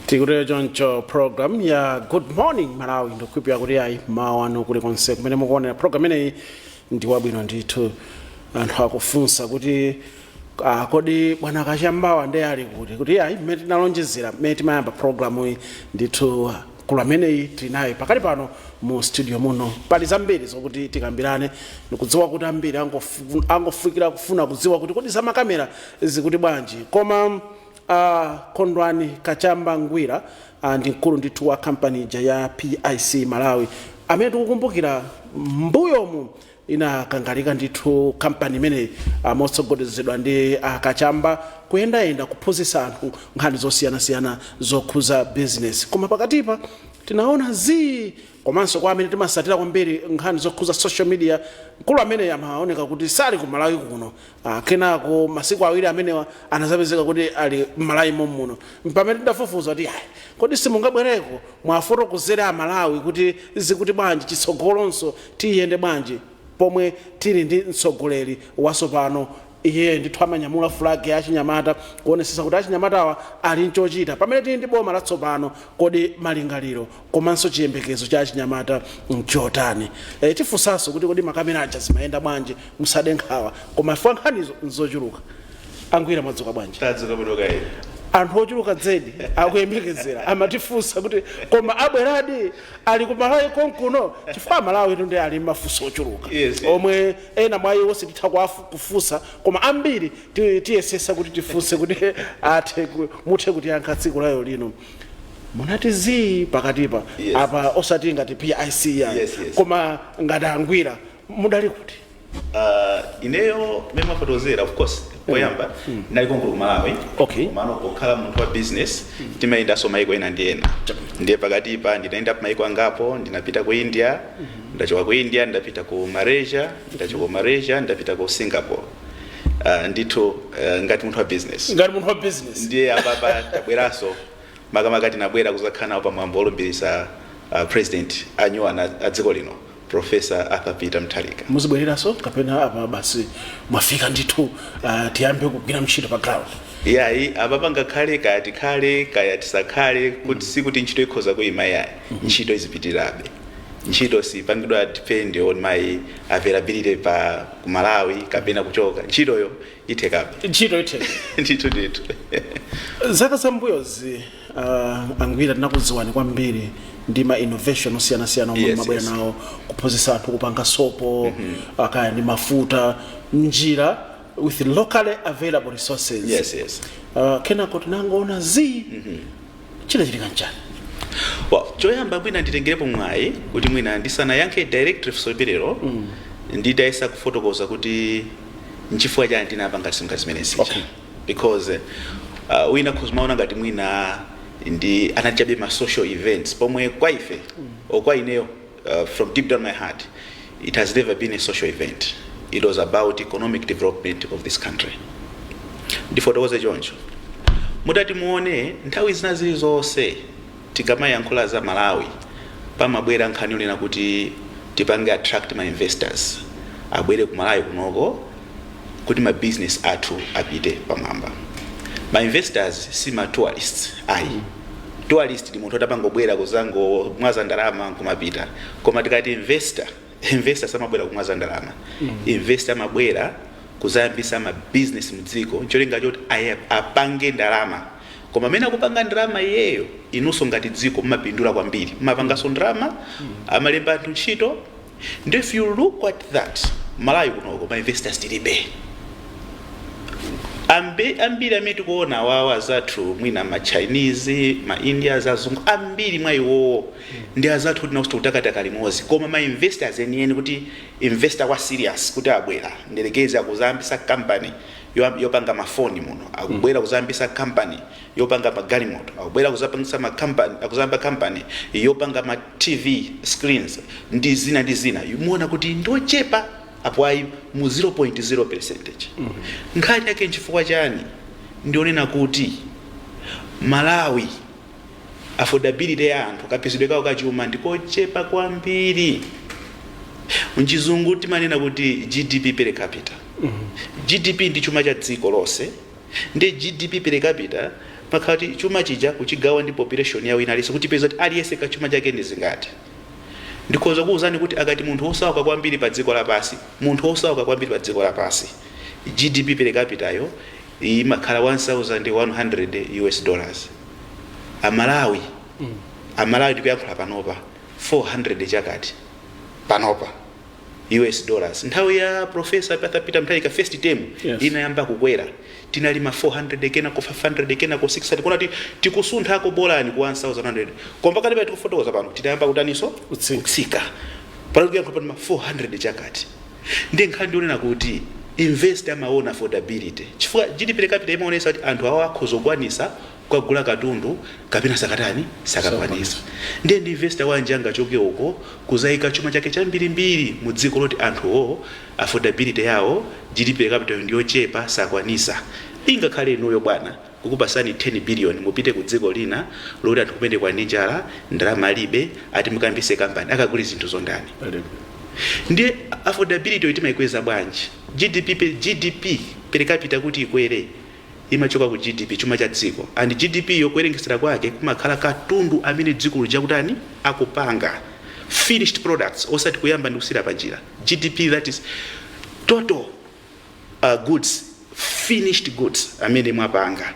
tikutero choncho program ya good morning malawi ndikukhulupira kuti ayi mmawa wanu kuli konse kumene mukuonera program imeneyi ndi wabwino ndithu anthu akufunsa kuti ah, kodi bwana kachambawa ndiye ali kuti kuti ayi mmene tinalonjezera mmene timayamba programu iyi ndithu Mkulu ameneyi tili naye pakali pano mu studio muno. Pali zambiri zokuti tikambirane. Ndikudziwa kuti ambiri angofu- angofikira kufuna kudziwa kuti kodi za makamera zikuti bwanji koma uh, kondwani kachamba ngwira uh, ndi mkulu ndithu wa kampani ija ya pic malawi amene tikukumbukira mbuyomu Inakangalika ndithu kampani imeneyi motsogolezedwa ndi a Kachamba kuyendayenda kuphunzitsa anthu nkhani zosiyanasiyana zokhuza bizinesi. Koma pakatipa tinaona zii komanso kwa amene timasatira kwambiri nkhani zokhuza social media mkulu ameneyi amaoneka kuti sali ku Malawi kuno Ah, kenako masiku awiri amenewa anazapezeka kuti ali m'malawi momuno mpamene tidafufuza kuti ayi kodi simungabwereko muwafotokozere amalawi kuti zikuti bwanji chitsogolonso tiyende bwanji pomwe tili ndi mtsogoleri wasopano iye ndithu amanyamula fulagi ya achinyamata kuonesesa kuti achinyamatawa ali nchochita pamene tili ndi boma latsopano kodi malingaliro komanso chiyembekezo cha achinyamata mchotani e, tifunsanso kuti kodi makamera aja zimayenda bwanji musade nkhawa koma chifukwa nkhanizo nzochuluka angwira mwadzuka bwanji tadzuka bwino kaye anthu ochuluka zedi akuyembekezera amatifunsa kuti koma abweradi ali ku malawi konkuno chifukwa amalawitu nde ali mafunso ochuluka Yes. omwe ena mwa iwo sititha kuwafu- kufunsa koma ambiri ti- tiyesesa kuti tifunse kuti athe ku- muthe kutiyankha tsiku lalero lino munati zii pakatipa Yes. apa osati ngati pic ya Yes, yes. koma ngati angwira mudali kuti Ah, ineyo mmene mwafotokozera of course poyamba ndinali konkuno ku malawi Okay. komano pokhala munthu wa business timayendanso maiko ena ndi ena ndiye pakatipa ndinayenda maiko angapo ndinapita ku india ndachoka ku india ndapita ku malaysia ndachoka ku malaysia ndapita ku singapore uh, ndithu uh, ngati munthu wa business ngati munthu wa business ndiye apapa tabweranso makamaka tinabwera kuzakhala nawo pa mwambo olumbiritsa uh, president anyuwani a dziko lino professor arthur peter mutharika muzibwereranso kapena apa basi mwafika ndithu uh, tiyambe kugwira ntchito pa ground yayi apapa ngakhale kaya tikhale kaya tisakhale kuti sikuti ntchito ikhoza kuyima yayi ntchito izipitirabe ntchito siipanga depend on my availability pa ku malawi kapena kuchoka ntchitoyo ithekabe ntchito itheka ndithu ndithu zaka zambuyozi uh, angwira tinakudziwani kwambiri ndi ma innovation osiyanasiyana omwe Yes, mmabwera yes. nawo kuphunzitsa anthu kupanga sopo uh, kaya ndi mafuta mnjira with locally available resources yes yes uh, kenako tinangoona zii chinachitika nchiyani well, choyamba mwina nditengerepo mwayi kuti mwina ndisanayankhe directly funso limenelo mm. nditayesa kufotokoza kuti nchifukwa chani tinapanga zinthu zimene zija Okay. because uh, wina akhoza kumaona ngati mwina ndinali chabe ma social events pomwe kwa ife mm. or kwa ineyo Uh, from deep down my heart, it has never been a social event. It was about economic development of this country. ndifotokoze choncho mutati muone nthawi zina zilizonse tikamayankhula za malawi pamabwera nkhani yonena kuti tipange attract ma investors abwere ku malawi kunoko kuti ma business athu apite pamwamba. Ma investors si ma tourists ayi. Tourist ndi munthu oti amangobwera kuzangomwaza ndalama nkumapita. Koma tikati investor, investor samabwera kumwaza ndalama. Investor amabwera kuzayambisa ma business mdziko ncholinga choti aya- apange ndalama. Koma pamene akupanga ndalama iyeyo, inunso ngati dziko mumapindula kwambiri. Mumapanganso ndalama, amalemba anthu ntchito, Nde if you look at that Malawi kunoko ma investors tilibe Ambi, ambiri amene tikuona awawa azathu mwina ma chinese ma indians azungu ambiri mwa iwowo ndi azathu kuti naonso tikutakataka limodzi koma ma investors enieni kuti investor wa serious kuti abwera ndiyerekeze akuzayambisa company yo- yopanga mafoni muno akubwera kuzayambisa company yopanga magalimoto akubwera kuzapangisa ma company akuzayamba company yopanga ma tv screens ndi zina ndi zina muona kuti ndochepa apo ayi mu 0.0 percentage nkhani yake nchifukwa chani ndi yonena kuti malawi affordability ya anthu kapezedwe kawo kachuma ndikochepa kwambiri mchizungu timanena kuti gdp per capita gdp ndi chuma cha dziko lonse Nde GDP per capita imakhala kuti chuma chija kuchigawa ndi population ya wina aliyense kuti tipeze kuti aliyense ka chuma chake ndi zingati. Ndikhoza kukuuzani kuti akati munthu wosauka kwambiri pa dziko lapansi, munthu wosauka kwambiri pa dziko lapansi, GDP per capita yawo imakhala 1100 US dollars. A Malawi, a Malawi tikuyankhula panopa 400 chakuti panopa. us dollars nthawi ya profesa Peter Mutharika first term Yes. inayamba kukwera tinali ma 400 kenako 500 kenako 600 kuona kuti tikusunthako bolani ku 1100 koma pakati pa tikufotokoza pano tinayamba kutaninso Kutsika. kutsika pano tikuyankhula pano ma 400 chakati ndi nkhani ndionena kuti investor amaona affordability chifukwa gdp per capita imaonesa kuti anthu awo akhoza kukwanisa kugula katundu kapena sakatani sakakwanisa ndiye ndi investor wanji angachoke uko kuzaika chuma chake chambirimbiri mu dziko loti anthuwo affordability yawo GDP per capita yo ndiyochepa sakwanisa ingakhale inuyo bwana kukupasani 10 billion mupite ku dziko lina loti anthu kumeneko ali ndi njala ndalama alibe ati mukayambise company akagule zinthuzo ndani ndiye affordability yo timaikweza bwanji GDP per, GDP per capita kuti ikwere imachoka ku GDP, chuma cha dziko, and GDP yo kuwerengesera kwake kumakhala katundu amene dziko lija akutani, akupanga, finished products, osati kuyamba ndi kusiyira panjira, GDP that is total uh, goods, finished goods amene mwapanga.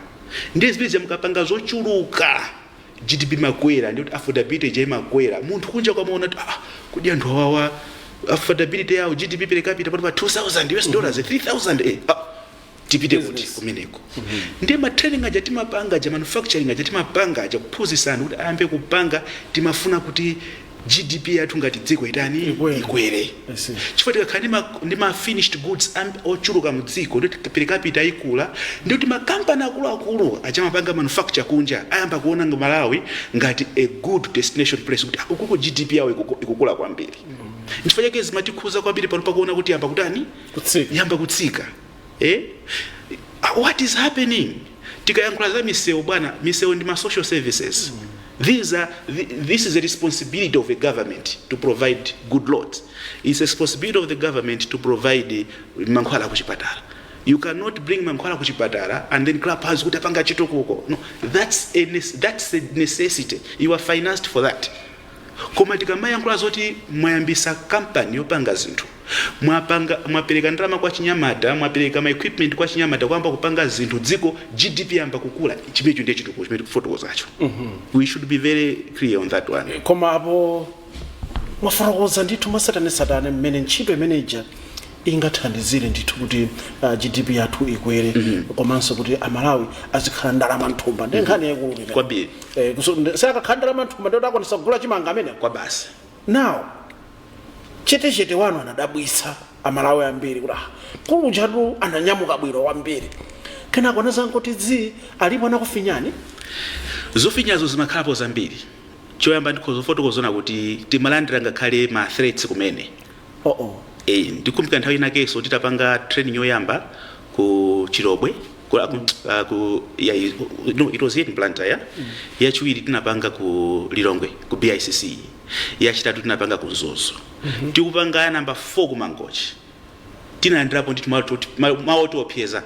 Ndiye zimene zija mukapanga zochuluka GDP imakwera, ndi kuti affordability ija imakwera. Munthu kunjaku amaona kuti ah, kodi anthu awawa affordability yawo GDP per capita ili pa 2000 US dollars 3000 eh, ah, tipite kuti Business. kumeneko ndiye ma training aja timapanga aja manufacturing aja timapanga aja kuphunzitsa anthu kuti ayambe kupanga timafuna kuti gdp yathu ngati dziko itani Ikwere. ikwere I see. chifukwa tikakhala ndi ma- ndi ma finished goods am- ochuluka mu dziko ndi per capita ikula ndi kuti makampani akuluakulu aja amapanga manufacture kunja ayamba kuona Malawi ngati a good destination place kuti ukuko gdp yawo ikuku- ikukula kwambiri nchifukwa chake zimatikhuza kwambiri pano pakuona kuti yamba kutani kutsika yamba kutsika eh? Ah, what is happening tikayankhula za misewu bwana misewu ndi ma social services These are, thi- this is a responsibility of a government to provide good roads it's a responsibility of the government to provide eh, mankhwala kuchipatala you cannot bring mankhwala kuchipatala and then clap hands kuti apanga chitukuko no that's a, nes- that's a necessity you are financed for that Koma tikamayankhula zoti mwayambisa company yopanga zinthu, mwapanga, mwapereka ndalama kwa achinyamata, mwapereka ma equipment kwa achinyamata kuyamba kupanga zinthu dziko GDP yayamba kukula, chimenecho ndiye chitukuko chimene tikufotokozacho. We should be very clear on that one. koma apo mwafotokoza ndithu mwatsatanetsatane mmene ntchito imene ija ingathandizire ndithu kuti uh, GDP yathu ikwere komanso kuti amalawi azikhala ndalama mthumba ndi nkhani yaikulu imeneyo. kwambiri Eh, kuso- ndi- sakakhala ndalama mthumba ndiye kuti akwanisa kugula chimanga amenewo basi now chetechete wanu anadabwitsa amalawi ambiri kuti ah, akulu ajatu ananyamuka bwino kwambiri kenako anazangoti zii alipo anakufinyani zofinyazo zimakhalapo zambiri choyamba ndikhoza kufotokozano kuti timalandira ngakhale ma threats kumene Oh, oh. Eh, ndikumbuka nthawi inakenso titapanga training yoyamba ku Chilobwe ku, ku, uh, ku ya, no, it was here in Blantyre yeah? mm. yachiwiri tinapanga ku Lilongwe ku BICC yachitatu tinapanga ku Mzuzu mm -hmm. tikupanga ya namba 4 ku Mangochi tinalandirapo ndithu mawu otiopseza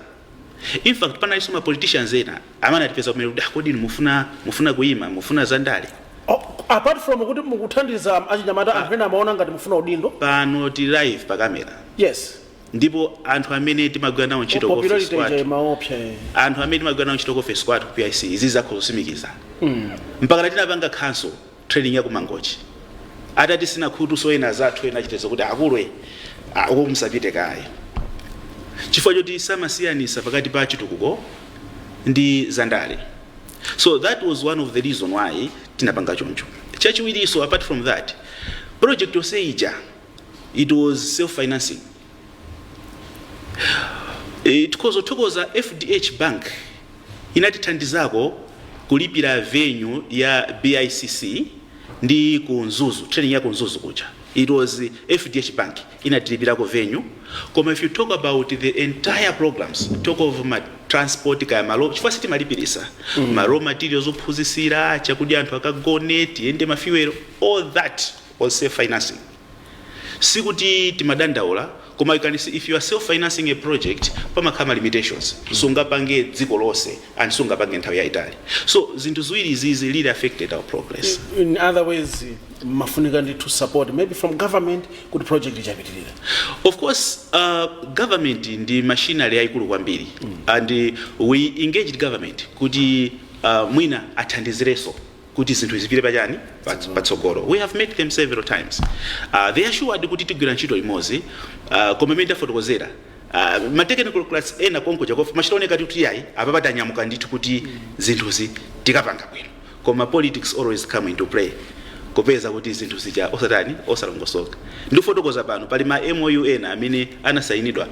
in fact panalinso ma politicians ena Amene atipeza kumene kuti ah kodi inu mufuna mufuna kuima mufuna za ndale. Oh apart from kuti mukuthandiza achinyamata anthu ena amaona ngati mufuna udindo. Pano tili live pa camera. Yes. Ndipo anthu amene timagwira nawo ntchito ku office kwathu. Popularity imaopsa. Anthu amene timagwira nawo ntchito ku office kwathu ku PIC izi zakho zosimikiza. Mm. Mpaka tinapanga cancel. training ya ku mangochi atatitsina khutu so ena azathu ena achitezo kuti akulwe ah, uko musapite kaye chifukwa choti samasiyanisa pakati pa chitukuko ndi zandale so that was one of the reason why tinapanga choncho chachiwiriso apart from that project yonse ija it was self financing E, tikhoza kuthokoza FDH Bank inatithandizako kulipira venue ya BICC ndi ku Mzuzu training ya ku Mzuzu kuja it was FDH Bank inatilipirako venue koma if you talk about the entire programs talk of ma transport kaya malo chifukwa sitimalipirisa mm. ma raw materials ophunzisira chakudya anthu akagone tiyende ma fuel all that was self financing sikuti timadandaula koma you can see if you are self financing a project pamakhala ma limitations sungapange dziko lonse and sungapange nthawi yaitali so zinthu ziwiri izizi really affected our progress in other ways mumafunika ndithu support maybe from government kuti project ija ipitirire of course uh, government ndi machinery yayikulu kwambiri and uh, we engaged government kuti uh, mwina athandizireso kuti zinthu zipite pa chani Pats- patsogolo we have met them several times uh, they assured kuti tigwira ntchito limodzi uh, koma mmene tafotokozera uh, ma technocrats ena konkuja of umachita kuoneka kuti yayi apa tanyamuka ndithu kuti zinthuzi tikapanga bwino koma politics always come into play kupeza kuti zinthu zija osatani osalongosoka ndikufotokoza pano pali ma mou ena amene anasayinidwa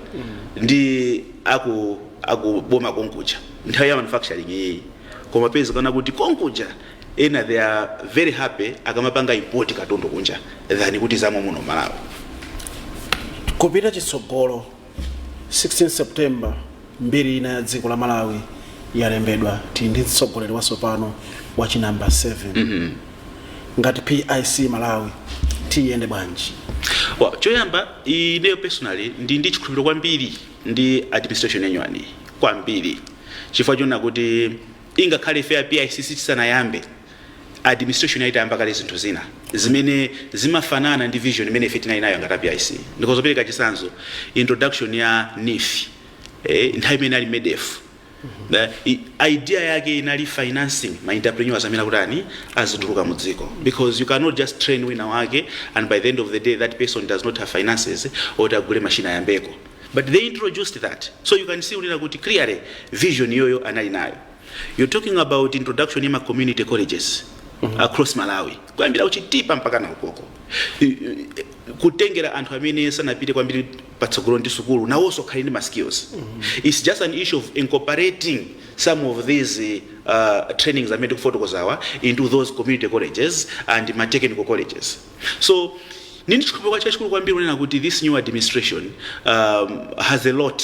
ndi aku akuboma konkuja nthawi ya manufacturing iyeyi koma zapezeka kuti konkuja ena they are very happy akamapanga import katundu kunja than kuti zomwe muno malawi kupita chitsogolo 16 september mbiri ina ya dziko la malawi yalembedwa tili ndi mtsogoleri watsopano wa chinamba 7 mm -hmm. ngati pic malawi tiyende bwanji well, choyamba ineyo personally ndili ndi chikhulupiriro kwambiri ndi administration ya nyuwaniyi kwambiri chifukwa chonena kuti ngakhale ife a PIC tisanayambe administration yayi itayamba kale zinthu zina zimene zimafanana ndi vision imene ife tinali nayo ngati a PIC ndikhoza kupereka chisanzo introduction ya NEEF eh, nthawi imene ali MEDEF The i- idea yake inali financing ma entrepreneurs amene akutani azituluka mu dziko because you cannot just train wina wake and by the end of the day that person does not have finances oti agule machine ayambeko but they introduced that so you can see unena kuti clearly vision iyoyo anali nayo you're talking about introduction ya ma community colleges across malawi kuyambira kuchitipa mpaka na ukoko I- i- kutengera anthu amene sanapite kwambiri patsogolo ndi sukulu nawonso akhale ndi ma skills its just an issue of incorporating some of these uh, trainings amene tikufotokozawa into those community colleges and ma technical colleges so ndili ndi chikhulupiriro chachikulu kwambiri kunena kuti this new administration um, has a lot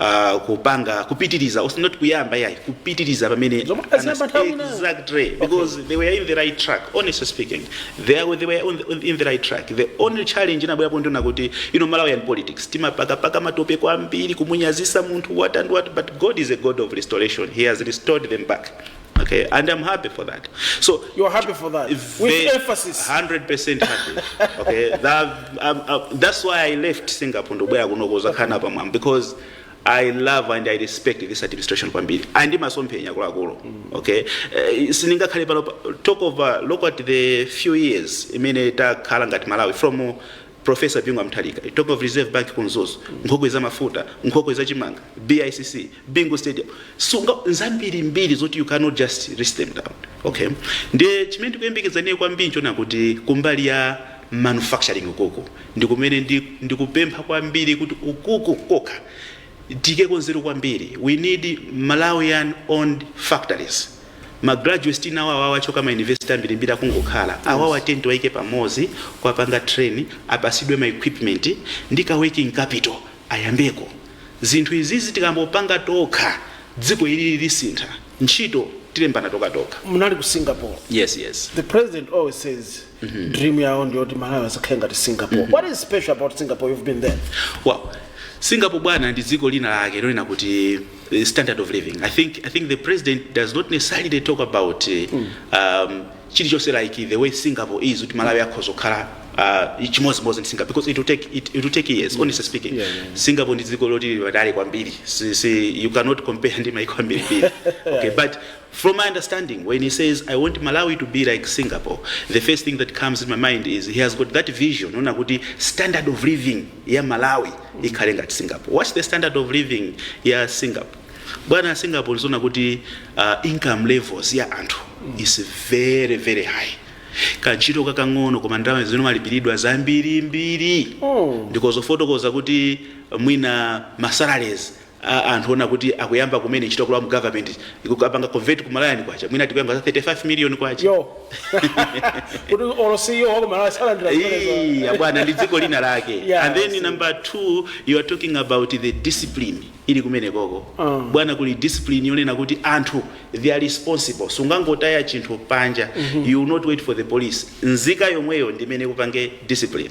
uh, kupanga kupitiriza os- not kuyamba yayi kupitiriza pamene Zomwe aziyamba anas- nthawi ina. exactly because they were in the right track honestly speaking they, are, they were on the, on- in the right track the only challenge inabwerapo ndi yonena kuti you know malawian politics timapakapaka matope kwambiri kumunyazitsa munthu what and what but god is a god of restoration he has restored them back Okay, and I'm happy for that. So You are happy for that. With Ve- emphasis. 100% happy. okay, that, um, uh, that's why I left Singapore ndobwera kuno kuzakhala pa mwambo because I love and I respect this administration kwambiri and imasomphenya akuluakulu okay uh, sindingakhale pano pa- talk of uh, look at the few years imene takhala ngati Malawi from uh, Prof Bingu wa Mutharika, you talk of reserve bank ku Mzuzu, nkhokwe za mafuta, nkhokwe za chimanga, BICC, Bingu stadium, zinthu zambirimbiri zoti you cannot just list them down. Okay. Ndiye chimene ndikuyembekeza ineyo kwambiri n'chonena kuti kumbali ya manufacturing ukuku ndikumene ndi, ndikupempha kwambiri kuti ukuku kokha Tiikeko nzeru kwambiri we need Malawian owned factories. Ma graduates tili nawo awawa achoka ma university ambirimbiri akungokhala awawa tiyeni tiwaike pamodzi kuwapanga train apatsidwe ma equipment ndi ka working capital ayambeko zinthu izizi tikangopanga tokha dziko ilili lisintha ntchito tilembana tokhatokha. Munali ku Singapore. Yes yes. The president always says. dream yawo ndiyoti malawi adzakhale ngati singapore what is special about singapore you've been there Well, Singapore bwana ndi dziko lina lake lonena kuti eh, standard of living. I think I think the president does not necessarily talk about eh, um, chilichonse like the way Singapore is kuti Malawi akhoza kukhala uh, chimodzimodzi ndi Singapore because it will take it, it will take years honestly speaking. Yeah, yeah, yeah. Singapore ndi dziko loti lili patali kwambiri. Si, si, you cannot compare ndi maiko ambiri. okay, but From my understanding when he says I want Malawi to be like Singapore the first thing that comes in my mind is he has got that vision yonena kuti standard of living ya Malawi ikhale ngati Singapore. What's the standard of living ya Singapore? Bwana ya Singapore ndi zonena kuti uh, income levels ya anthu is very very high kantchito kakang'ono koma ndalama zimene umalipiridwa zambirimbiri ndikhoza kufotokoza kuti mwina masalaries a anthu ona kuti akuyamba kumene ntchito kulowa mu government ukapanga convert ku Malawian kwacha mwina tikukamba za 35 million kwacha yo kuti olo CEO wa ku Malawi salandira Hey, zimenezo abwana ndi dziko lina lake Yeah, and then see. number 2 you are talking about the discipline ili kumene koko Ah. bwana kuli discipline yonena kuti anthu they are responsible sungangotaya chinthu panja you will not wait for the police nzika yomweyo ndi imene ikupange discipline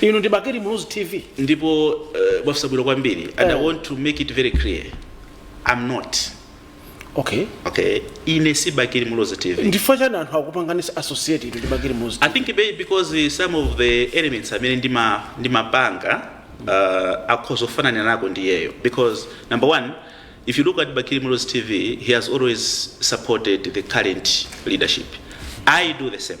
inu ndi bakili muluzi tv ndipo uh, mwafunsa bwino kwambiri and i want to make it very clear i'm not okay okay ine si bakili muluzi tv ndifukwa chani anthu akupanganisani associate inu ndi bakili muluzi i think maybe because uh, some of the elements amene ndima- ndimapanga uh, akhoza kufanana nako ndiyeyo because number one if you look at bakili muluzi tv he has always supported the current leadership i do the same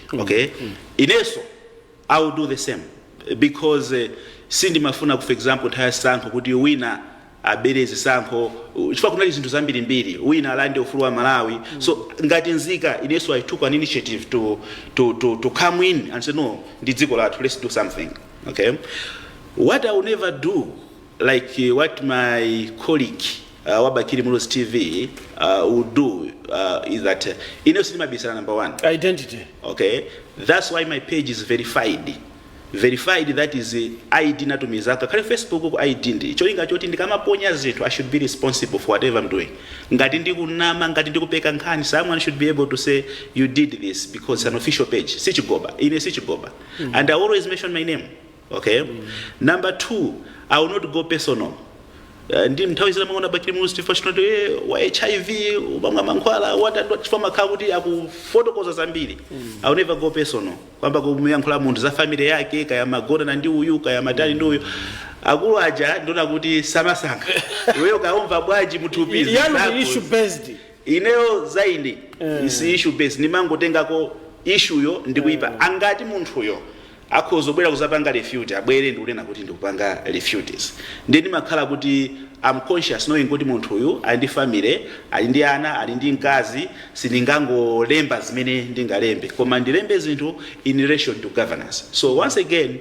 okay inenso i will do the same because eh, sindimafuna for example nthawi ya zisankho kuti wina abere zisankho uh, chifukwa kunali zinthu zambirimbiri wina alande ufulu wa aMalawi so ngati nzika inenso i took an initiative to, to, to, to come in and say no ndi dziko lathu let's do something okay what i will never do like eh, what my colleague uh, wa bakili muluzi tv uh, will do uh, is that uh, ineyo sindimabisala number one identity okay that's why my page is verified verified that is uh, id natumiza kalekale facebook-ku id ndi cholinga choti ndikamaponya zinthu i should be responsible for whatever i'm doing ngati ndikunama ngati ndikupeka nkhani someone should be able to say you did this because it's an official page sichigoba ine sichigoba and i always mention my name ok number 2 i will not go personal Eh, ndi nthawi zina mwaona bakili muluzi chifukwa chinoto eh, wa hiv umamwa mankhwala watandwa chifukwa makhala kuti akufotokoza zambiri i will never go personal kuyamba kumuyankhula munthu za family yake kaya amagonana ndi uyu kaya amatani ndi uyu akulu aja ndimaona kuti samasankha iweyo kaumva bwanji m'thupi zimenezo ndi zako ndi issue based ineyo za ine is issue based ndimangotengako ishuyo ndikuipanga kuti munthuyo akhoza kubwera kuzapanga refute abwere ndikunena kuti ndikupanga refutes ndiye ndimakhala kuti I'm conscious knowing kuti munthu uyu ali ndi family ali ndi ana ali ndi mkazi sindingangolemba zimene ndingalembe koma ndilembe zinthu in relation to governance so once again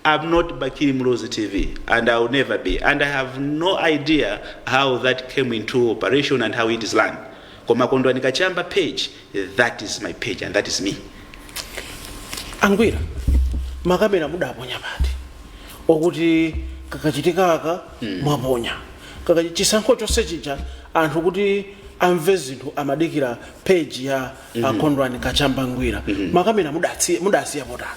I'm not Bakili Muluzi TV and I'll never be and I have no idea how that came into operation and how it is run koma kondwani kachamba page That is my page and that is me. angwira makamera mudaponya pati okuti kakachitikaka mwaponya kakachi chisankho chonse chija anthu kuti amve zinthu amadikira peji ya akondwani kachamba ngwira makamera mudatsi- mudasiya pati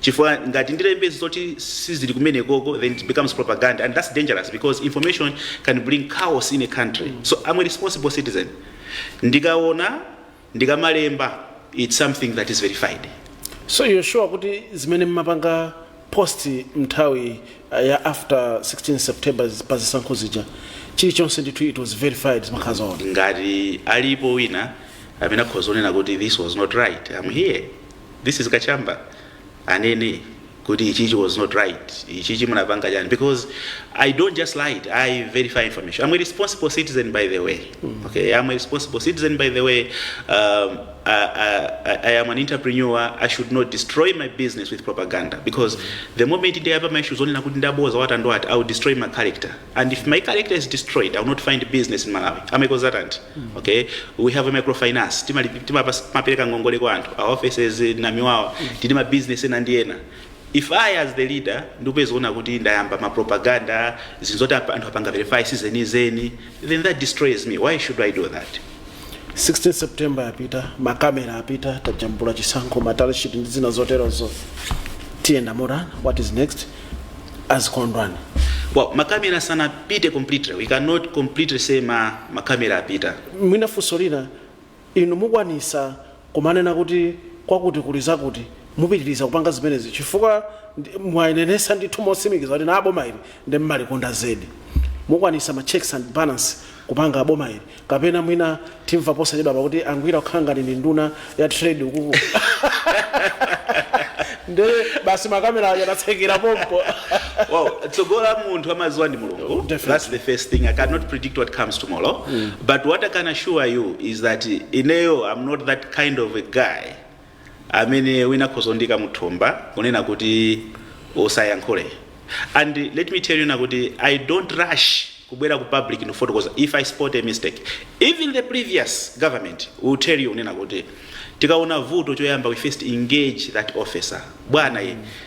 chifukwa ngati ndilembe zoti sizili kumenekoko then it becomes propaganda and that's dangerous because information can bring chaos in a country so i'm a responsible citizen ndikaona ndikamalemba it's something that is verified so you're sure kuti zimene mmapanga post mnthawi uh, ya after 16 september pa zisankho zija chilichonse ndithu it was verified zimakhala zoona ngati alipo wina amene akhoza kunena kuti this was not right i'm here this is kachamba anene kuti ichichi was not right ichichi munapanga chani because i don't just lie it, i verify information i'm a responsible citizen by the way okay i'm a responsible citizen by the way um, I, I, I am an entrepreneur i should not destroy my business with propaganda because the moment ndiyapa ma issues onena kuti ndaboza watandwati i will destroy my character and if my character is destroyed i will not find business in malawi I'm a consultant okay we have a microfinance timali- timapas- timapereka ngongole kwa anthu our offices in namiwawa tili ma business ena ndi ena if i as the leader ndikupezeka kuti ndayamba ma propaganda zinthu zoti apa- anthu apanga verify sizenizeni then that destroys me why should i do that 16 september yapita makamera apita tajambula chisankho ma tally sheet ndi zina zoterozo tiyenda motani what is next as Kondwani? Well, makamera sanapite completely. We cannot completely say ma makamera apita. mwina funso lina inu mukwanisa kumanena kuti kwakuti kuli zakuti mupitiriza kupanga zimenezi chifukwa ndi- mwanenesa ndithu mosimikiza kunena kuti boma ili nde mmalikonda zedi mukwanisa ma checks and balance kupanga boma ili Kapena mwina timva posachedwapa kuti a Ngwira kukhala ngati ndi nduna ya trade ukuku. Nde basi makamera aja anatsekera pompo. well, tsogolo la munthu amadziwa ndi mulungu Definitely. that's the first thing i cannot predict what comes tomorrow but what i can assure you is that ineyo i'm not that kind of a guy amene wina akhoza kundiika muthumba kunena kuti usayankhule and let me tell you kunena kuti i don't rush kubwera ku public ndikufotokoza if i spot a mistake even the previous government will tell you kunena kuti tikaona vuto choyamba we first engage that officer bwana ye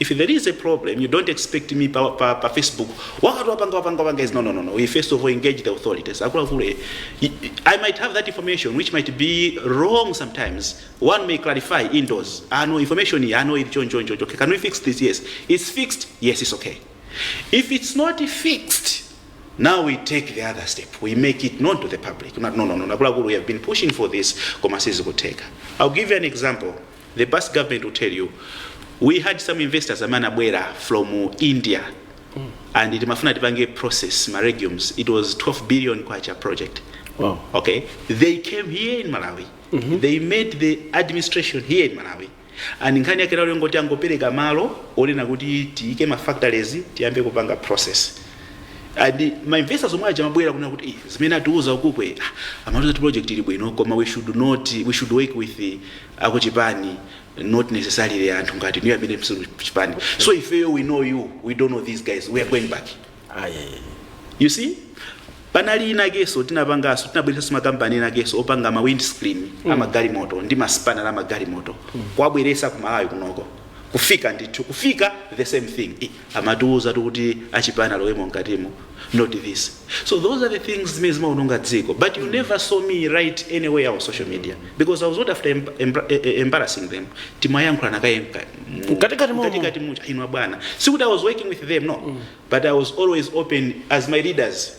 If there is a problem you don't expect me pa, pa, pa Facebook wakati wapanga wapanga wapanga is no no no no we first of all engage the authorities akuluakulu eh, y- y- I might have that information which might be wrong sometimes one may clarify indoors ah no information iyi, ah no ili choncho choncho okay can we fix this yes it's fixed yes it's okay if it's not fixed now we take the other step we make it known to the public no no no no akuluakulu we have been pushing for this koma sizikuteka I'll give you an example The past government will tell you we had some investors amene anabwera from India and timafuna tipange process ma legumes it was 12 billion kwacha project Wow. okay they came here in malawi they made the administration here in malawi and nkhani yake inangoti angopereka malo onena kuti tiike ma factories tiyambe kupanga process and ma investors omwe aja anabwera kunena kuti "Eh, zimene atiuza ukukwe ah, amatiuza kuti project ili bwino koma we should not we should work with the, akuchipani not necessarily anthu ngati inuyo amene simuli kuchipani so ifeyo we know you we don't know these guys we are going back you see panali inakeso tinapangaso tinabweresaso makampani inakeso opanga ma windscreen mm. amagalimoto ndi ma spanner amagalimoto mm. kuwabweresa ku malawi kunoko kufika ndithu kufika the same thing I- amatiuzatu kuti achipani alowemo mkatimo not this so those are the things zimene zimaononga dziko but you never saw me write anywhere on social media because i was not after emb emb eh, eh, embarrassing them timayankhulana kaye mka- mu- Mkatikati momo. mkatikati muja inwa bwana sikuti i was working with them no but i was always open as my leaders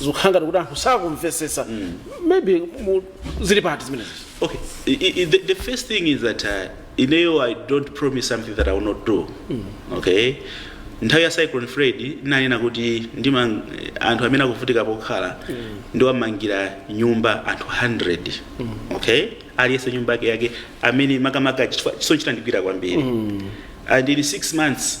zikukhala ngati kuti anthu sakumvetsetsa maybe mu- zili party zimenezi Okay, I, I, the, the first thing is that uh, ineyo I don't promise something that I will not do. Okay? nthawi ya cyclone Freddy ndinanena kuti ndima anthu amene akuvutika pokhala ndiwamangira nyumba anthu 100 okay aliyense nyumba yake yake amene makamaka chifukwa zisochi zandikhudza kwambiri and in 6 months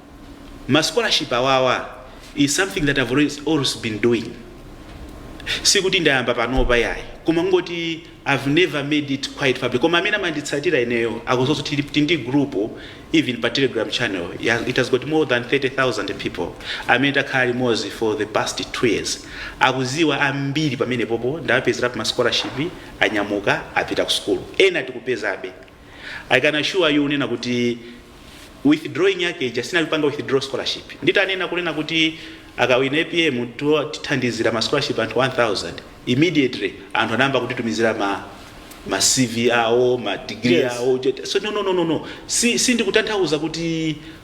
ma scholarship awawa is something that I've always, always been doing sikuti ndayamba panopa yayi koma kungoti I've never made it quite public koma amene amanditsatira ineyo akuziwa zoti tili ndi group even pa telegram channel ya- it has got more than 30000 people amene takhala limodzi for the past two years akuziwa ambiri pamenepopo ndawapezerapo ma scholarship anyamuka apita ku school ena tikupezabe I can assure you kunena kuti withdrawing yake ija sinali kupanga withdraw scholarship nditanena kunena kuti akawina apm to- tithandizira ma scholarship anthu 1000 immediately anthu anayamba kutitumizira ma ma cv awo ma degree Yes. awo Uja- so no no no no no si, si ndikutanthauza kuti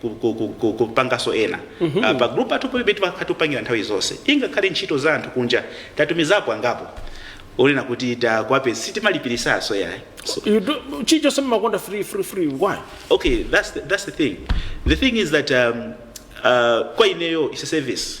ku- ku- ku- ku- kupanganso ena Ah, pa group yathu palibe timakhala tikupangira nthawi zonse ingakhale ntchito za anthu kunja tatumizapo angapo kunena kuti takwape sitimalipiritsanso yayi so, You do, chichani simakonda free free free why? okay that's the, that's the thing the thing is that um, uh, kwa ineyo is a service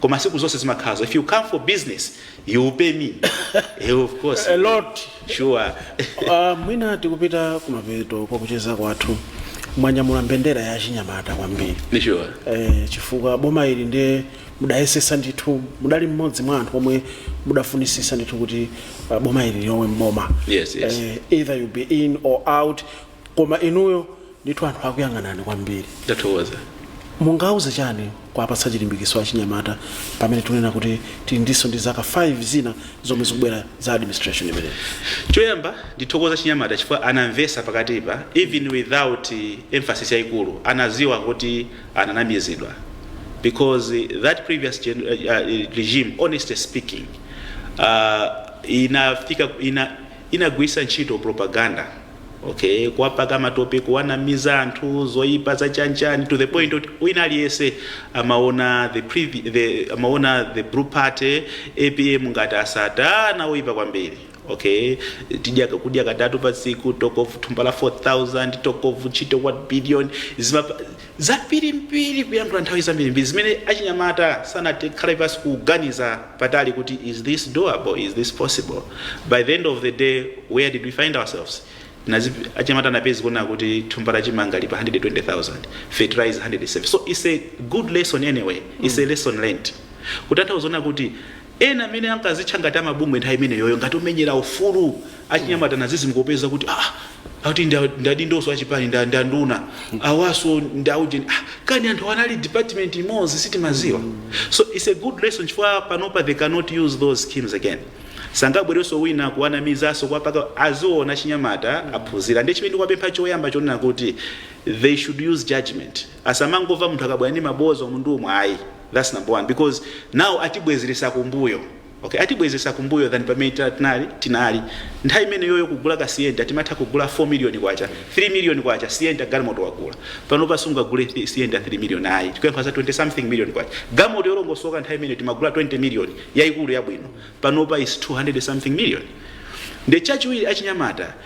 koma sikuti zonse zimakhala zo if you come for business you will pay me Eh, of course A lot. sure Ah, mwina tikupita kumapeto kwa kucheza kwathu mwanyamula mbendera ya chinyamata kwambiri Ndi sure eh, chifukwa boma ili ndiye mudayesesa ndithu mudali mmodzi mwa anthu omwe mudafunisisa ndithu kuti ah, boma ili lilowe mboma Yes, yes. eh, either you be in or out koma inuyo ndithu anthu akuyang'anani kwambiri ndathokoza mungauze chani kuwapatsa chilimbikiso achinyamata pamene tunena kuti tili ndiso ndi zaka 5 zina zomwe zikubwera za administration imeneyi choyamba ndithokoze achinyamata chifukwa anamvesa pakatipa even without eh, emphasis yaikulu anaziwa kuti ananamizidwa because that previous gen, uh, uh, regime honestly speaking uh, inafika ina, inagwirisa ntchito propaganda okay kuwapaka matope kuwanamiza anthu zoyipa zachanchani to the point oti wina aliyese amaona the, previ, the, amaona the blue party apm ngati asatana oyipa kwambiri okay tizidya kudya katatu pa tsiku talk of thumba la 4000 talk of ntchito 1 billion zimapa Zambirimbiri kuyankhula nthawi zambirimbiri zimene achinyamata sanathe kukhala pansi kuganiza patali kuti is this doable is this possible by the end of the day where did we find ourselves Nazi achinyamata anapezeka akuona kuti thumba la chimanga lili pa 120,000 fertilizer 170 so it's a good lesson anyway it's a lesson learned kutanthauza kuti Ena amene ankazitcha ngati a mabungwe nthawi imeneyoyo ngati omenyera ufulu achinyamata anadzidzimuka kupeza kuti ah, akuti ndi a- ndi adindonso achipani ndi a- ndi anduna awanso ndi aujeni ah, kani anthu anali department imodzi sitimadziwa so it's a good lesson chifukwa panopa they cannot use those schemes again sangabwerenso wina kuwanamizanso kwapaka aziona achinyamata aphunzira ndiye chimene ndikuwapempha choyamba ndi chonena kuti they should use judgment Asamangomva munthu akabwera ndi maboza umu ndi umu ayi that's number one because now atibwezeretsa kumbuyo okay atibwezeretsa kumbuyo than pamene tinali tinali nthawi imeneyoyo kugula ka sienta timatha kugula 4 million kwacha 3 million kwacha sienta galimoto wagula panopa sungagule thi- sienta 3 million ayi tikukamba za 20 something million kwacha galimoto yolongosoka nthawi imeneyo timagula 20 million yaikulu yabwino panopa is 200 something million nde chachiwiri achinyamata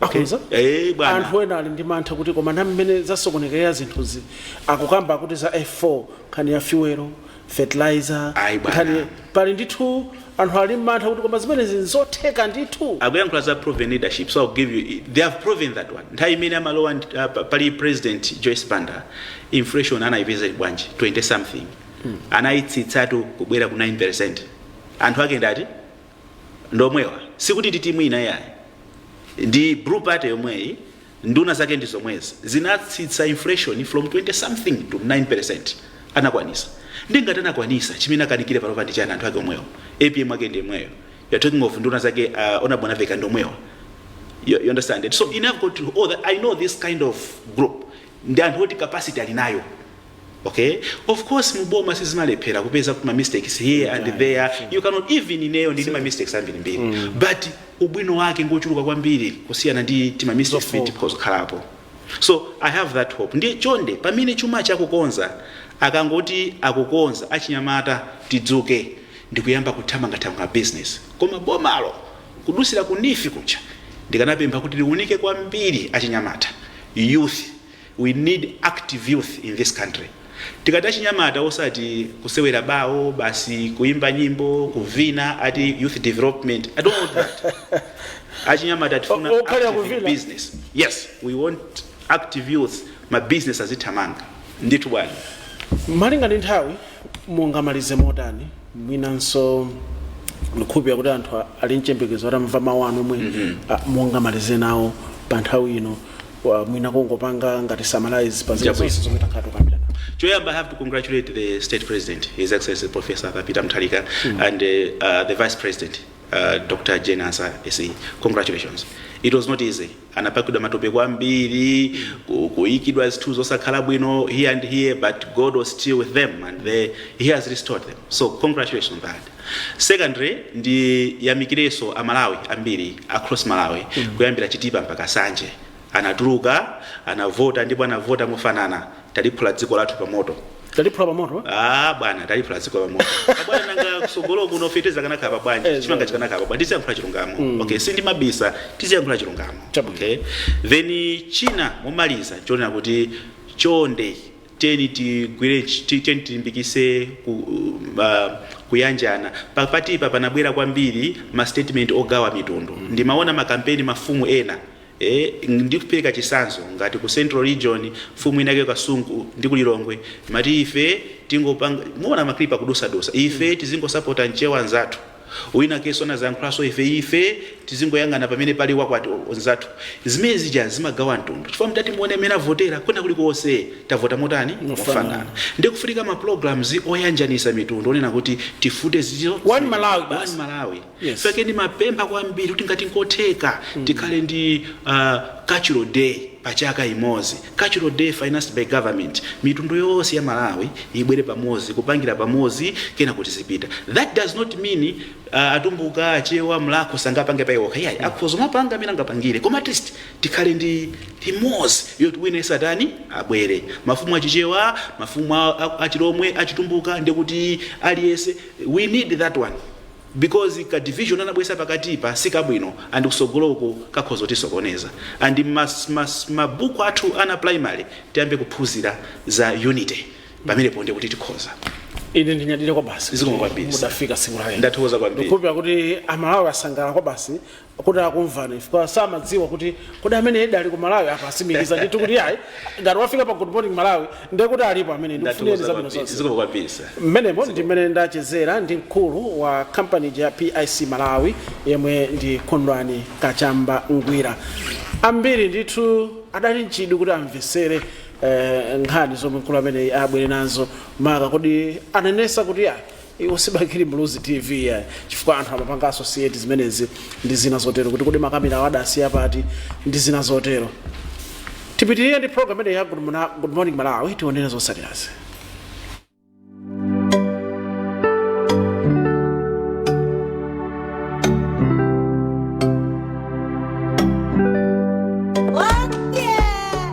Akhonza? Eh, bwana. anthu ena ali ndi mantha kuti koma ndi mmene zasokonekera zinthuzi akukamba kuti za f4 nkhani ya fuelo fertilizer Ayi, bwana. nkhani pali ndithu anthu ali mmantha kuti koma zimenezi nzotheka ndithu akuyankhula za proven leadership so I'll give you they have proven that one nthawi imene amalowa ndi- ah, pa- pali president joyce banda inflation anayipeza ili bwanji 20 something anayitsitsatu kubwera ku 9 percent anthu ake ndati ndomwewa sikuti ndi timu ina yayi ndi blue party yomweyi nduna zake ndi zomwezi zinatsitsa inflation from 20 something to 9% anakwanitsa nde ngati anakwanitsa chimene akanikire panopa ndi chiyani anthu ake omwewo apm ake ndi yemweyo you're talking of nduna zake uh, Honourable Mwanamvekha ndi omwewa you, you understand it so in regard to all that, i know this kind of group ndi anthu oti capacity ali nayo Okay of course mu boma sizimalephera kupeza kuti ma mistakes here and Right. there you cannot even ineyo ndili ma mistakes ambiri mbiri but ubwino wake ngochuluka kwambiri kusiyana ndi tima mistakes Zofoka. timene tikukhalapo so i have that hope ndiye chonde pamene chuma akukonza akangoti akukonza achinyamata tidzuke ndikuyamba kuthamangathamanga business koma bomalo kudutsira ku NEEF ku chani ndikanapempha kuti liunike kwambiri achinyamata youth We need active youth in this country. Tikati achinyamata osati kusewera bawo basi, kuimba nyimbo, kuvina ati youth development. I don't want that. Achinyamata tifuna O- okhalira kuvina. active business. Yes, we want active youth ma business azithamanga. Ndithu bwana. malinga ndi nthawi mungamalize motani mwinanso ndikukhulupira kuti anthu a- ali mchembekezo atamva mawu anu omwe a- mungamalize nawo pa nthawi ino Wa- mwina kungopanga ngati summarize pa zinthu Chabwino. zonse zomwe takhala tikukambirana Choyamba, I have to congratulate the State President, His Excellency Professor Peter Mutharika, and uh, uh, the Vice President, uh, Dr. Jane Ansah, SE. Congratulations. It was not easy. Anapakidwa matope kwambiri, ku- kuikidwa zinthu zosakhala bwino here and here, but God was still with them and they, He has restored them. So congratulations on that. Secondly ndiyamikireso a Malawi ambiri across Malawi kuyambira Chitipa mpaka Nsanje anatuluka anavota ndipo anavota mofanana taliphula dziko lathu pa moto Taliphula pa moto? Ah bwana taliphula dziko pa moto. Abwana nanga kusogolo kuno feteleza akanakhala bwanji Eh, chimanga chikanakhala bwanji tiziyankhula chilungamo. Okay sindimabisa tiziyankhula chilungamo. Chabwino. Okay. Then china momaliza chonena kuti chonde tiyeni tigwire tiyeni tilimbikise ku, uh, kuyanjana papatipa panabwera kwambiri ma statement ogawa mitundu mm. ndimaona m'makampeni mafumu ena Eh, ndikupereka chisanzo ngati ku central region mfumu inake ku Kasungu ndi ku Lilongwe amati ife tingopanga muona maklipa akudusadusa ife tizingosapota mchewa mnzathu Winakenso anazayankhulanso ife ife tizingoyang'ana pamene pali wakwathu mnzathu zimene zija zimagawa mtundu chifukwa mutati muone mmene avotera kwina kuli konse tavota motani mofanana ndiye kufunika ma programs oyanjanisa mitundu onena kuti tifufute izo One Malawi basi. Yes. pake ndimapempha kwambiri kuti ngati nkotheka tikhale ndi uh, cultural day pachaka imozi Cultural Day financed by government mitundu yonse ya Malawi ibwere pamozi kupangira pamozi kenako tizipita that does not mean atumbuka, achewa, mlakho asangapange pa iwo okha iyayi akhoza kumapanga mmene angapangire koma at least tikhale ndi imozi yoti wina yense atani abwere mafumu a chichewa mafumu a, a, a chilomwe a chitumbuka ndekuti aliyense we need that one because ka division anabwesa pakatipa si kabwino and kusogoloko kakhoza kutisokoneza and ma ma ma book athu ana a primary tiyambe kuphuzira za unity pamenepo ndekuti tikhoza ine ndinyadire kwabasi Zikomo kwambiri, sir. mudafika siku lake ndathokoza kwambiri ndikukhulupirira kuti amalawi asangalala kwabasi kuti akumvani chifukwa samadziwa kuti kodi amenewa edi ali ku malawi apa asimikiza ndithu kuti iyayi ngati wafika pa good morning malawi ndiye kuti alipo amenewa ndikufunireni zabwino zonse zikomo kwambiri sir mmenemo ndi mmene ndachezera ndi mkulu wa kampani ya pic malawi yemwe ndi kondwani kachamba ngwira ambiri ndithu adali ndi chidwi kuti amvesere eh, nkhani zomwe mkulu ameneyi wabwera nazo maka kodi anenesa kuti iyayi iwo si bakili muluzi tv iyayi chifukwa anthu amapanga associate zimenezi ndi zina zotero kuti kodi makamera awo adasiya pati ndi zina zotero tipitirire ndi program imeneyi ya good, Mona- good morning malawi tionere zotsatirazi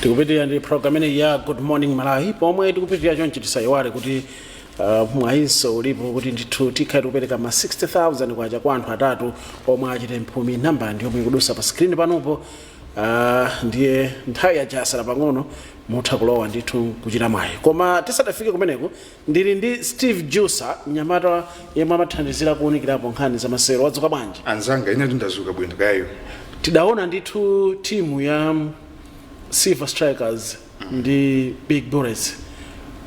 tikupitirira ndi program imeneyi ya good morning malawi pomwe tikupitirira chonchi tisayiwale kuti uh, mwayinso ulipo kuti ndithu tikhala tikupereka ma 60000 kwacha kwa anthu atatu omwe achite mphumi nambala ndiyomwe ikudusa pa screen panopo Ah, ndiye nthawi yaja yasala pang'ono mutha kulowa ndithu kuchita mwayi koma tisadafike kumeneko ndili ndi steve jusa mnyamata yemwe amathandizira kuunikirapo nkhani za masewero wadzuka bwanji anzanga ine ndadzuka bwino kaya tidaona ndithu timu ya silver strikers ndi big bullets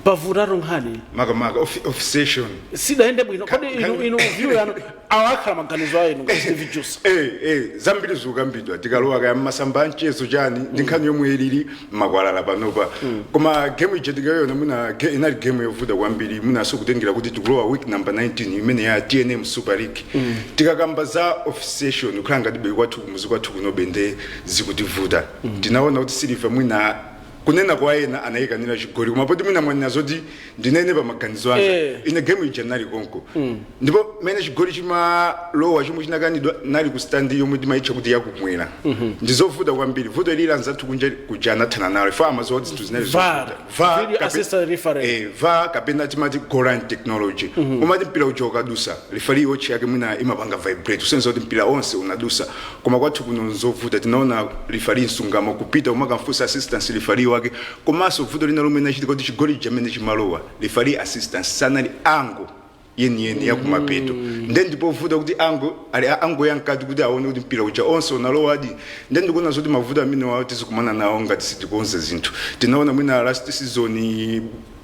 pavutatu nkhani makamaka offi- officiation sidayende bwino kodi inu inu view yanu awakhala maganizo anu ngati steve jusa Eh, eh, zambiri zikukambidwa tikalowa kaya mmasamba a mchezo chani ndi nkhani yomwe ilili mmakwalala panopa koma game ija tikayona mwina ge- inali game yovuta kwambiri mwinanso kutengera kuti tikulowa week number 19 imene ya tnm super league tikakamba za officiation kukhala ngati bwere kwathu kumuzi kwathu kunobe nde zikutivuta ndinaona kuti siliva mwina kunena kwa ena anayikanira chigoli koma poti mwina mwanena zoti ndinene pa maganizo anga Eh. ine gemu ija nali konko ndipo mene chigoli chimalowa chomwe chinakanidwa nali ku standi yomwe timayitcha kuti yakumwera ndizovuta kwambiri vuto ili anzathu kunja kuja anathana nalo chifukwa amaziwa kuti zinthu zinali Var. zovuta VAR Video kape- assistant referee. eh, VAR kapena timati goal line technology umati mpira uja ukadusa lifali watch yake mwina imapanga vibrate kusonyeza kuti mpira onse unadusa koma kwathu kuno nzovuta tinaona lifali msungama kupita kumakamfusa assistance lifali wake komanso vuto lina lomwe linachitika kuti chigoli chija mene chimalowa lifali assistance sanali angle yeniyeni yakumapeto nde ndipovuta kuti angle ali angle ya mkati kuti aone kuti mpira uja onse unalowadi nde ndikuona zoti mavuto amenewawo tizikumana nawo ngati sitikonza zinthu tinaona mwina last season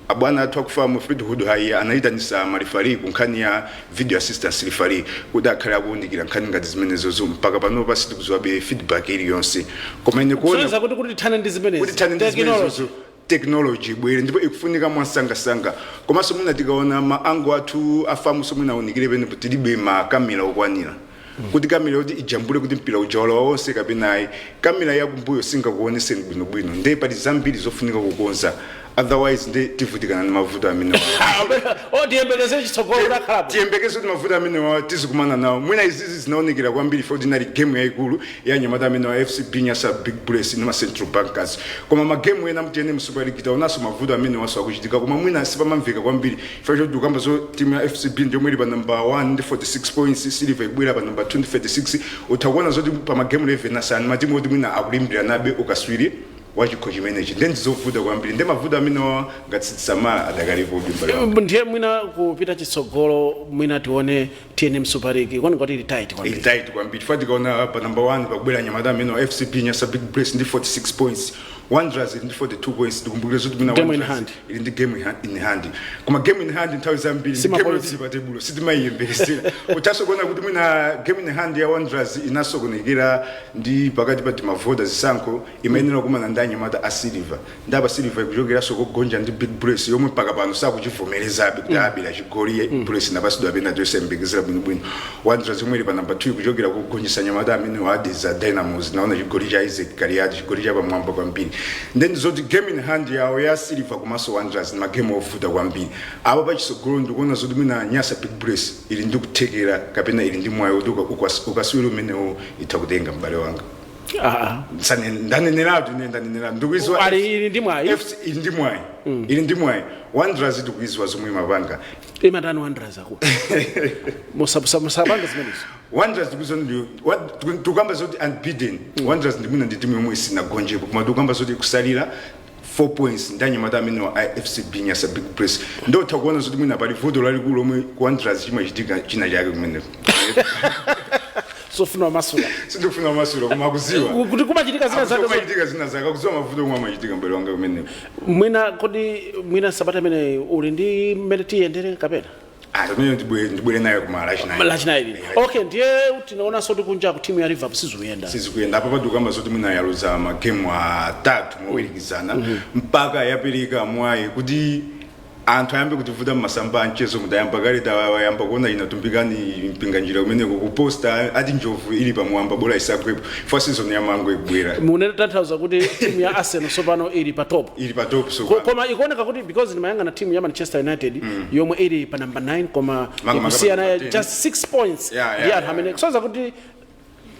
abwana athu aku FAM fleetwood haiya anayitanisa malifali ku nkhani ya video assistant referee kuti akhale akuwunikira nkhani ngati zimenezozo mpaka panopa sitikuziwabe feedback iliyonse koma ine kuona kusonyeza kuti kuti tithane ndi kuti zimenezi tithane ndi technology zimenezozo technology ibwere ndipo ikufunika mwansangasanga komanso mwina tikaona ma angle athu a FAMso mwina aunikire pena poti tilibe ma kamera okwanira kuti kamera yoti ijambule kuti mpira uja walowa wonse kapena ayi kamera yakumbuyo singakuoneseni bwinobwino nde pali zambiri zofunika kukonza otherwise nde tivutikana ndi mavuto amenewo tiyembekeze chitsogolo udakhalapo tiyembekeze kuti mavuto amenewa tizikumana nawo mwina izizi zinaonekera kwambiri poti inali game yayikulu ya anyamata amenewa a FCB Nyasa Big Bullets ndi ma Central Bankers. Koma magemu ena mu TNM Super League taonanso mavuto amenewanso akuchitika koma mwina sipamamveka kwambiri chifukwa choti tikukamba zoti timu ya FCB ndi yomwe ili pa number 1 ndi 46 points, Silver ikubwera pa number 2 ndi 36. Utha kuona zoti pa magemu 11 asanu matimu oti mwina akulimbiranabe ukaswiri wa chikho chimenechi ndi ndizovuta kwambiri ndi mavuto amenewa ngati sitisamala adakalipo udimbali ndiye mwina kupita chitsogolo mwina tione tnm super league panopa ili tight kwambiri ili tight kwambiri chifukwa tikaona pa number 1 pakubwera anyamata amenewa a fcb nyasa big bullets ndi 46 points wanderers ili ndi 42 points tikumbukire zoti mwina Game in Wanderers hand. ili ndi game in ha- in hand koma game in hand nthawi zambiri ndi Sima game point. yotsiri pa tebulo sitimayiyembekezera uthanso kuona kuti mwina game in hand ya wanderers inasokonekera ndi pakati pa timavoda zisankho imayenera kukumana ndi anyamata a silver ndaba silver ikuchokeranso kogonja ndi big bullets yomwe mpaka pano sakuchivomerezabe kuti anabera chigoli mm. bullets inapatsidwa pena tosayembekezera bwinobwino wanderers yomwe ili pa namba 2 ikuchokera kogonjetsa anyamata amenewa a dedza dynamos tinaona chigoli cha isaac kaliati chigoli cha pamwamba kwambiri nde zoti game in hand yawo ya silver komanso wanderers ndi magemu ovuta kwambiri apa pachitsogolo ndikuona zoti mwina nyasa big bullets ili ndi kuthekera kapena ili ndi mwayi woti uka- ukas- ukaswiri umenewo itha kutenga m'bale wanga Ah, Sane- ndaneneratu ine ndaneneratu ah. ndikuidziwa ali ili ndi mwayi FC ili ndi mwayi ili ndi mwayi wanderers ndikuidziwa zomwe imapanga imatani wanderers aku musapange zimenezo wanderers ndikuidziwa ndi wa- tiku- tikukamba zoti unbeaten wanderers ndi mwina ndi timu yomwe sinagonjepo koma tikukamba zoti ikutsalira 4 points ndi anyamata amenewa a FCB Nyasa Big Bullets nde utha kuona zoti mwina pali vuto lalikulu lomwe ku Wanderers chimachitika china chake kumeneko sindikufuna kumasula sindikufuna kumasula koma akudziwa kuti kumachitika zina zake zo- kumachitika zina zake akudziwa mavuto omwe amachitika m'bale wanga kumeneko mwina kodi mwina sabata imene ino ndi mmene tiyendere kapena Ah, pamene ndibwe- ndibwere nayo kuma lachinayi lachinayi lino okay ndiye tinaonanso kuti kunja ku timu ya liverpool sizikuyenda sizikuyenda apa pa tikukamba zoti mwina yaluza magemu atatu motsatizana mpaka yapereka mwayi kuti anthu ayambe kutivuta mmasamba a mchezo tayamba kale tayamba kuona ena Tumbikani mpinganjira kumeneko kuposta ati njovu ili pamwamba bola isagwepo chifukwa season ya mango ikubwera mukutanthauza kuti timu ya arsenal tsopano ili pa top ili pa top so Ko- koma ikuoneka kuti because ndimayang'ana team ya manchester united mm. yomwe ili pa number 9 koma ikusiyana just 6 points yeah, yeah, ndi anthu amene kusonyeza kuti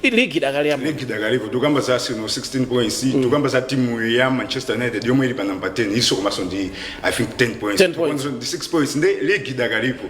ligi idakali yamoyo ligi idakalipo tikukamba za Arsenal 16 points mm. tikukamba za timu ya Manchester United yomwe ili pa number 10 iyo komanso ndi i think 10 points 10 points ndi 6 points nde ligi idakalipo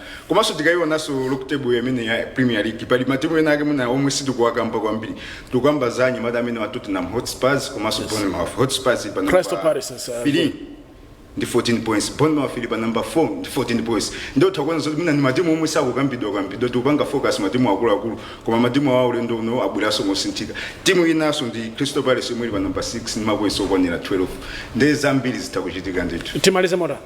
komanso tikayionanso log table imene ya premier league pali matimu ena ake mwina omwe sitikuwakamba kwambiri tikukamba za anyamata amenewa a tottenham hotspurs komanso bournemouth hotspurs ili pa number three ndi 14 points bournemouth ili pa number 4 ndi 14 points ndiye tikuona zoti mwina ndi matimu omwe sakukambidwa kambidwa tikupanga focus matimu akuluakulu koma matimu awa ulendo uno abweranso mosinthika timu inaso ndi crystal palace yomwe ili pa number 6 ndi mapoints okwanira 12 ndi zambiri zoti zikuchitika ndithu timalize motani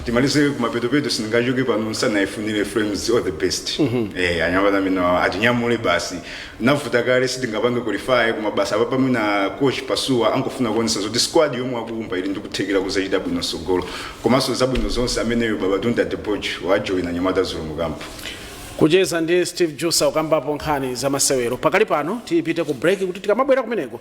timalize kumapetopeto sindingachoke pano ndisanaifunire flames all the best eh anyamata amene awa atinyamule basi navuta kale sitingapange qualify koma basi apa mwina coach pasuwa akungofuna kuonesa zoti squad yomwe akuumba ili ndikuthekera kuzachita bwino sogolo komanso zabwino zonse ameneyo babatunde adepoju wajoina anyamata zikomo kwambiri kucheza ndi steve jusa kukambapo nkhani za masewero pakali pano tipite ku break kuti tikamabwera kumeneko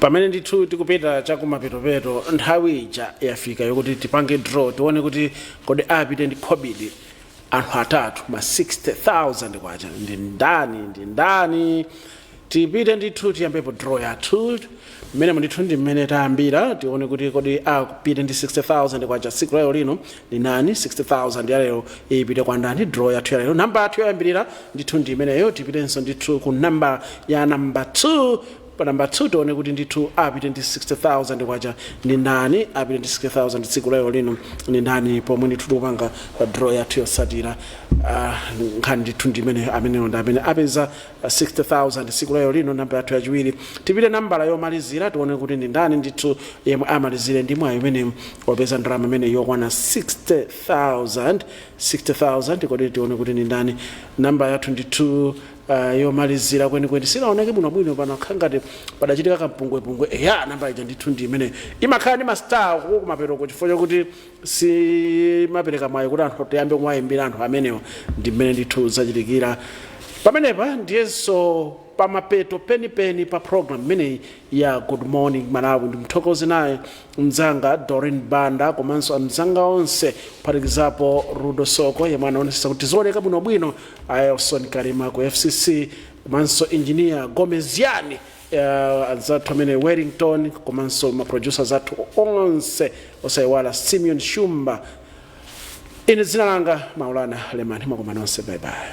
pamene ndithu tikupita chakumapetopeto nthawi ija yafika yokuti tipange draw tione kuti kodi apite ndi khobidi anthu atatu ma 60000 kwacha ndi ndani ndi ndani tipite ndithu tiyambepo draw yathu mmenemo ndithu ndi mmene tayambira tione kuti kodi apite ndi 60000 kwacha tsiku lalero lino ndi ndani 60000 yalero ipite kwa ndani draw yathu yalero namba yathu yoyambirira ndithu ndi imeneyo tipitenso ndithu ku namba ya namba 2 pa namba 2 tione kuti ndithu apite ndi 60000 kwacha ndi ndani apite ndi 60000 tsiku lalero lino ndi ndani pomwe ndithu tikupanga draw yathu yotsatira Ah, nkhani ndithu ndi imeneyo ameneyo ndi amene apeza 60000 tsiku lalero lino namba yathu yachiwiri tipite nambala yomalizira tione kuti ndi ndani ndithu yemwe amalizire ndi mwayi umenewu opeza ndalama imene yokwana 60000 60000 kodi tione kuti ndi ndani namba yathu ndithu uh, yomalizira kwenikweni sinaoneke bwinobwino panakhala ngati padachitika kampungwepungwe eya namba ija ndithu ndi imene imakhala ndi mastar kumapetoko chifukwa chakuti simapereka mwayi woti anthu ayambe kuwayimbira anthu amenewo ndi mmene ndithu zachitikira pamenepa ndiyenso pamapeto penipeni pa program imeneyi ya good morning malawi ndimthokoze naye mzanga doreen banda komanso amzanga onse kuphatikizapo rudo soko yemwe anaonetsetsa kuti tizioneka bwinobwino ellison kalima ku fcc komanso injiniya gomeziani uh, anzathu amene wellington komanso maproducers athu onse osayiwala simeon shumba ine dzina langa maulana lemani mwakoma nonse bayibayi